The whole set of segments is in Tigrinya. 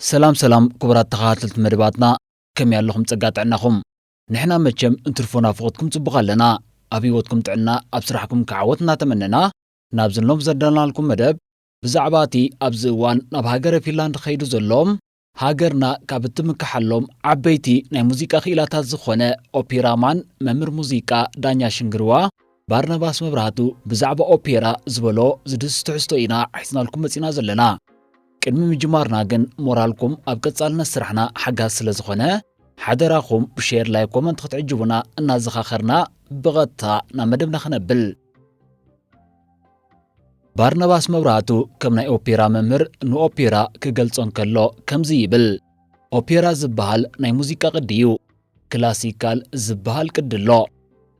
ሰላም ሰላም ኩቡራት ተኻታተልቲ መደባትና ከመይ ኣለኹም ጸጋ ጥዕናኹም ንሕና መቸም እንትርፎ ናፍቆትኩም ጽቡቅ ኣለና ኣብ ሂወትኩም ጥዕና ኣብ ስራሕኩም ከ ዓወት እናተመነና ናብዚ ሎም ዘዳልናልኩም መደብ ብዛዕባ እቲ ኣብዚ እዋን ናብ ሃገረ ፊንላንድ ከይዱ ዘሎ ሃገርና ካብ እትምከሓሎም ዓበይቲ ናይ ሙዚቃ ክኢላታት ዝኾነ ኦፒራ ማን መምህር ሙዚቃ ዳኛ ሽንግርዋ ባርናባስ መብራህቱ ብዛዕባ ኦፔራ ዝበሎ ዝድስስ ትሕዝቶ ኢና ሒዝናልኩም መጺና ዘለና ቅድሚ ምጅማርና ግን ሞራልኩም ኣብ ቀጻልነት ስራሕና ሓጋዚ ስለ ዝኾነ ሓደራኹም ብሼር ላይ ኮመንት ክትዕጅቡና እናዘኻኸርና ብቐጥታ ናብ መደብና ክነብል ባርናባስ መብራህቱ ከም ናይ ኦፔራ መምህር ንኦፔራ ክገልጾ እንከሎ ከምዚ ይብል ኦፔራ ዝበሃል ናይ ሙዚቃ ቅዲ እዩ ክላሲካል ዝበሃል ቅዲ ኣሎ።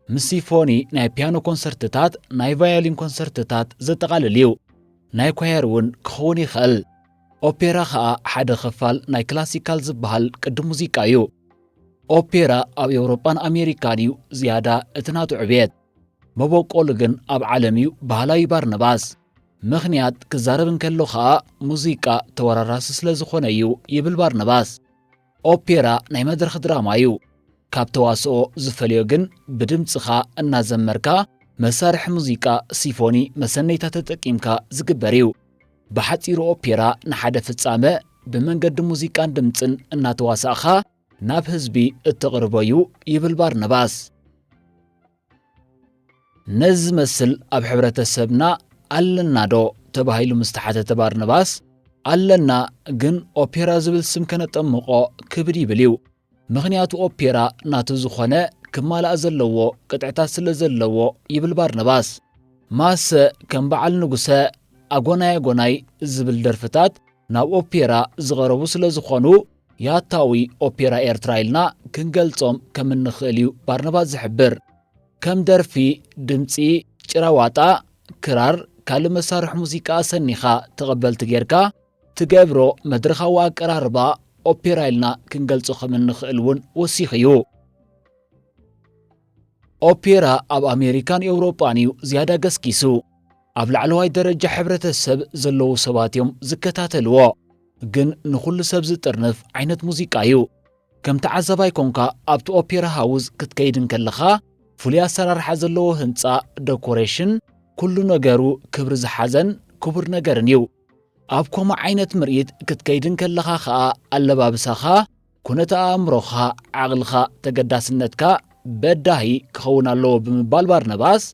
ምስ ሲፎኒ ናይ ፒያኖ ኮንሰርትታት፣ ናይ ቫዮሊን ኮንሰርትታት ዘጠቓልል እዩ። ናይ ኳየር እውን ክኸውን ይኽእል። ኦፔራ ከኣ ሓደ ክፋል ናይ ክላሲካል ዝበሃል ቅዲ ሙዚቃ እዩ። ኦፔራ ኣብ ኤውሮጳን ኣሜሪካን እዩ ዝያዳ እቲ ናቱ ዕብየት። መበቆሉ ግን ኣብ ዓለም እዩ በሃላይ ባርነባስ። ምኽንያት ክዛረብ እንከሎ ከኣ ሙዚቃ ተወራራሲ ስለ ዝኾነ እዩ ይብል ባርነባስ። ኦፔራ ናይ መድረኽ ድራማ እዩ። ካብ ተዋስኦ ዝፈልዮ ግን ብድምፅኻ እናዘመርካ መሳርሒ ሙዚቃ ሲፎኒ መሰነይታ ተጠቂምካ ዝግበር እዩ። ብሓፂሩ ኦፔራ ንሓደ ፍፃመ ብመንገዲ ሙዚቃን ድምፅን እናተዋሳእኻ ናብ ህዝቢ እተቕርቦ እዩ ይብል ባርናባስ። ነዚ ዝመስል ኣብ ሕብረተሰብና ኣለናዶ ተባሂሉ ምስ ተሓተተ ባርነባስ ኣለና ግን ኦፔራ ዝብል ስም ከነጠምቖ ክብድ ይብል እዩ ምኽንያቱ ኦፔራ ናቱ ዝኾነ ክማላእ ዘለዎ ቅጥዕታት ስለ ዘለዎ ይብል ባርነባስ ማሰ ከም በዓል ንጉሰ ኣጎናይ ኣጎናይ ዝብል ደርፍታት ናብ ኦፔራ ዝቐረቡ ስለ ዝኾኑ ያታዊ ኦፔራ ኤርትራ ኢልና ክንገልጾም ከም እንኽእል እዩ ባርናባስ ዝሕብር። ከም ደርፊ፣ ድምጺ፣ ጭራ ዋጣ፣ ክራር፣ ካልእ መሳርሒ ሙዚቃ ኣሰኒኻ ተቐበልቲ ጌርካ ትገብሮ መድረኻዊ ኣቀራርባ ኦፔራ ኢልና ክንገልጾ ከም እንኽእል እውን ወሲኹ እዩ። ኦፔራ ኣብ ኣሜሪካን ኤውሮጳን እዩ ዝያዳ ገስጊሱ። ኣብ ላዕለዋይ ደረጃ ሕብረተሰብ ዘለዉ ሰባት እዮም ዝከታተልዎ። ግን ንኹሉ ሰብ ዝጥርንፍ ዓይነት ሙዚቃ እዩ። ከም ተዓዛባይ ኮንካ ኣብቲ ኦፔራ ሃውዝ ክትከይድ እንከለኻ ፍሉይ ኣሰራርሓ ዘለዎ ህንጻ፣ ደኮሬሽን፣ ኩሉ ነገሩ ክብሪ ዝሓዘን ክቡር ነገርን እዩ። ኣብ ኮማ ዓይነት ምርኢት ክትከይድ እንከለኻ ከኣ ኣለባብሳኻ ኩነተ ኣእምሮኻ፣ ዓቕልኻ፣ ተገዳስነትካ በዳሂ ክኸውን ኣለዎ ብምባል ባርነባስ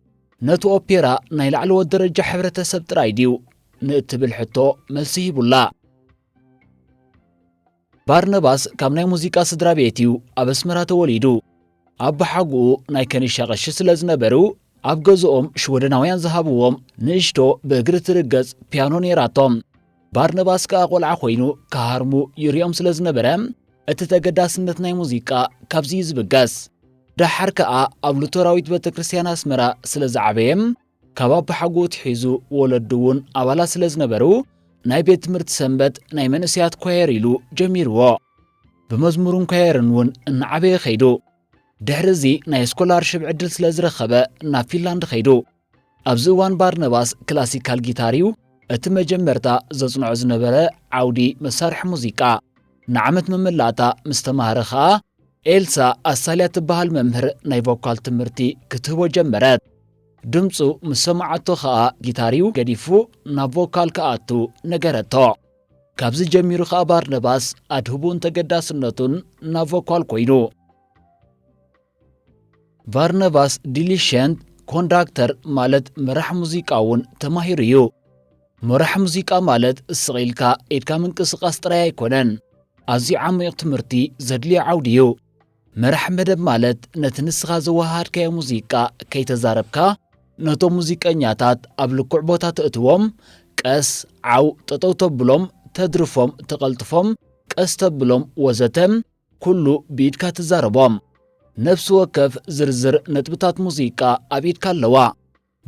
ነቲ ኦፔራ ናይ ላዕለዎት ደረጃ ሕብረተሰብ ጥራይ ድዩ ንእትብል ሕቶ መልሲ ሂቡላ። ባርነባስ ካብ ናይ ሙዚቃ ስድራ ቤት እዩ ኣብ ኣስመራ ተወሊዱ። ኣቦሓጉኡ ናይ ከኒሻ ቀሺ ስለ ዝነበሩ ኣብ ገዝኦም ሽወደናውያን ዝሃብዎም ንእሽቶ ብእግሪ ትርገጽ ፒያኖ ነይራቶም። ባርነባስ ከኣ ቆልዓ ኮይኑ ክሃርሙ ይርኦም ስለ ዝነበረ እቲ ተገዳስነት ናይ ሙዚቃ ካብዚ እዩ ዝብገስ። ደሓር ከኣ ኣብ ሉተራዊት ቤተ ክርስቲያን ኣስመራ ስለ ዝዓበየ ካብ ኣቦሓጎኡ ትሒዙ ወለዱ እውን ኣባላት ስለ ዝነበሩ ናይ ቤት ትምህርቲ ሰንበት ናይ መንእሰያት ኳየር ኢሉ ጀሚርዎ። ብመዝሙርን ኳየርን እውን እናዓበየ ከይዱ። ድሕሪ እዚ ናይ ስኮላርሽፕ ዕድል ስለ ዝረኸበ ናብ ፊንላንድ ከይዱ። ኣብዚ እዋን ባርነባስ ክላሲካል ጊታር እዩ እቲ መጀመርታ ዘጽንዖ ዝነበረ ዓውዲ መሳርሒ ሙዚቃ። ንዓመት መመላእታ ምስ ተማህረ ከኣ ኤልሳ ኣሳልያ ትበሃል መምህር ናይ ቮካል ትምህርቲ ክትህቦ ጀመረት። ድምጹ ምስ ሰምዓቶ ከኣ ጊታር እዩ ገዲፉ ናብ ቮካል ክኣቱ ነገረቶ። ካብዚ ጀሚሩ ከኣ ባርነባስ ኣድህቡኡን ተገዳስነቱን ናብ ቮካል ኮይኑ። ቫርነቫስ ዲሊሸንት ኮንዳክተር ማለት መራሕ ሙዚቃ እውን ተማሂሩ እዩ። መራሕ ሙዚቃ ማለት ስቕ ኢልካ ኢድካ ምንቅስቓስ ጥራይ ኣይኮነን፣ ኣዝዩ ዓሚቕ ትምህርቲ ዘድልዮ ዓውዲ እዩ። መራሕ መደብ ማለት ነቲ ንስኻ ዘወሃሃድካዮ ሙዚቃ ከይተዛረብካ ነቶም ሙዚቀኛታት ኣብ ልኩዕ ቦታ ተእትዎም፣ ቀስ፣ ዓው፣ ጠጠው ተብሎም፣ ተድርፎም፣ ተቐልጥፎም፣ ቀስ ተብሎም ወዘተ ኩሉ ብኢድካ ትዛረቦ። ነፍሲ ወከፍ ዝርዝር ነጥብታት ሙዚቃ ኣብ ኢድካ ኣለዋ።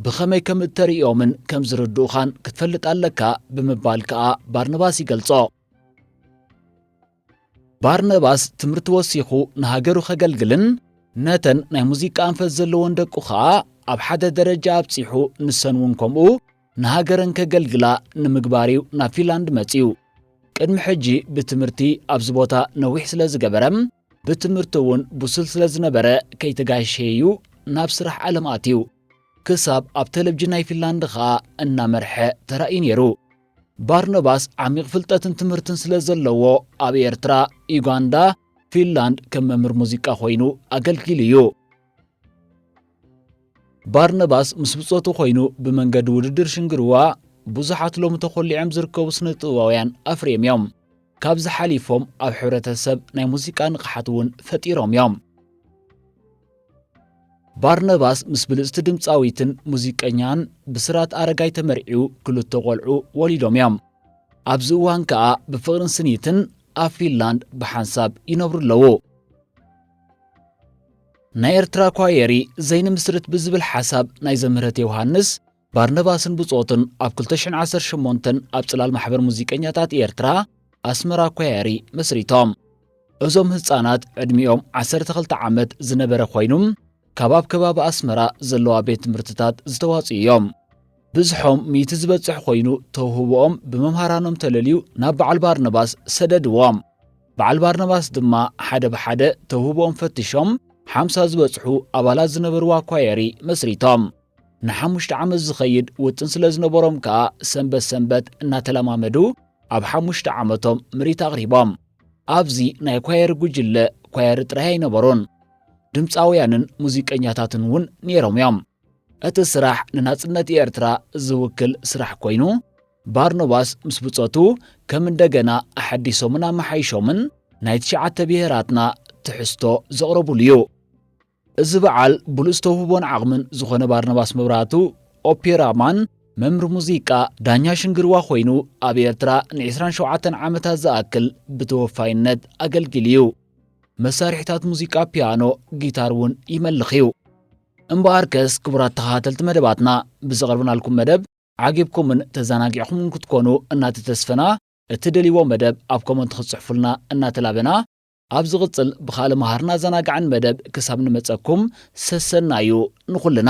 ብኸመይ ከም እተርእዮምን ከም ዝርድኡኻን ክትፈልጥ ኣለካ ብምባል ከኣ ባርነባስ ይገልጾ። ባርነባስ ትምህርቲ ወሲኹ ንሃገሩ ከገልግልን ነተን ናይ ሙዚቃ ኣንፈት ዘለወን ደቁ ከኣ ኣብ ሓደ ደረጃ ኣብጺሑ ንሰን እውን ከምኡ ንሃገረን ከገልግላ ንምግባር እዩ ናብ ፊንላንድ መጺኡ። ቅድሚ ሕጂ ብትምህርቲ ኣብዚ ቦታ ነዊሕ ስለ ዝገበረ ብትምህርቲ እውን ብሱል ስለ ዝነበረ ከይተጋሸየ እዩ ናብ ስራሕ ዓለም ኣትዩ። ክሳብ ኣብ ተለቭጅን ናይ ፊንላንድ ኸኣ እናመርሐ ተራእዩ ነይሩ። ባርኖባስ ዓሚቕ ፍልጠትን ትምህርትን ስለ ዘለዎ ኣብ ኤርትራ፣ ዩጋንዳ፣ ፊንላንድ ከም መምህር ሙዚቃ ኮይኑ ኣገልጊሉ እዩ። ባርነባስ ምስ ብጾቱ ኮይኑ ብመንገዲ ውድድር ሽንግርዋ ብዙሓት ሎሚ ተኾሊዖም ዝርከቡ ስነ ጥበባውያን ኣፍርዮም እዮም። ካብዚ ሓሊፎም ኣብ ሕብረተሰብ ናይ ሙዚቃ ንቕሓት እውን ፈጢሮም እዮም። ባርነባስ ምስ ብልጽቲ ድምፃዊትን ሙዚቀኛን ብስራት ኣረጋይ ተመርዒው ክልተ ቆልዑ ወሊዶም እዮም። ኣብዚ እዋን ከኣ ብፍቕርን ስኒትን ኣብ ፊንላንድ ብሓንሳብ ይነብሩ ኣለዉ። ናይ ኤርትራ ኳየሪ ዘይንምስርት ብዝብል ሓሳብ ናይ ዘምህረት ዮሃንስ ባርነባስን ብጾቱን ኣብ 2018 ኣብ ጽላል ማሕበር ሙዚቀኛታት ኤርትራ ኣስመራ ኳየሪ መስሪቶም። እዞም ህጻናት ዕድሚኦም 12 ዓመት ዝነበረ ኮይኑ ካብ ኣብ ከባቢ ኣስመራ ዘለዋ ቤት ትምህርትታት ዝተዋጽኡ እዮም። ብዝሖም ሚእቲ ዝበጽሕ ኮይኑ ተውህቦኦም ብመምሃራኖም ተለልዩ ናብ በዓል ባርነባስ ሰደድዎም። በዓል ባርናባስ ድማ ሓደ ብሓደ ተውህቦኦም ፈትሾም ሓምሳ ዝበጽሑ ኣባላት ዝነበርዋ ኳየሪ መስሪቶም። ንሓሙሽተ ዓመት ዝኸይድ ውጥን ስለ ዝነበሮም ከኣ ሰንበት ሰንበት እናተለማመዱ ኣብ ሓሙሽተ ዓመቶም ምርኢት ኣቕሪቦም። ኣብዚ ናይ ኳየሪ ጉጅለ ኳየሪ ጥራይ ኣይነበሩን፣ ድምጻውያንን ሙዚቀኛታትን እውን ነይሮም እዮም። እቲ ስራሕ ንናጽነት ኤርትራ ዝውክል ስራሕ ኮይኑ፣ ባርኖባስ ምስ ብጾቱ ከም እንደገና ኣሐዲሶምን ኣመሓይሾምን ናይ ትሽዓተ ብሄራትና ትሕዝቶ ዘቕረቡሉ እዩ። እዚ በዓል ብሉጽ ተውህቦን ዓቕምን ዝኾነ ባርኖባስ መብራህቱ፣ ኦፔራ ማን፣ መምር ሙዚቃ፣ ዳኛ ሽንግርዋ ኮይኑ ኣብ ኤርትራ ንዒስራን ሸውዓተን ዓመታት ዝኣክል ብተወፋይነት ኣገልጊሉ እዩ። መሳርሒታት ሙዚቃ ፒያኖ፣ ጊታር እውን ይመልኽ እዩ። እምበኣርከስ ክቡራት ተኸታተልቲ መደባትና ብዘቕርብናልኩም መደብ ዓጊብኩምን ተዛናጊዕኹምን ክትኮኑ እናተተስፈና እትደልይዎ መደብ ኣብ ኮመንት ክትጽሕፉልና እናተላበና ኣብ ዝቕጽል ብኻልእ መሃርን ኣዘናጋዕን መደብ ክሳብ ንመጸኩም ሰሰናዩ ንኹልና።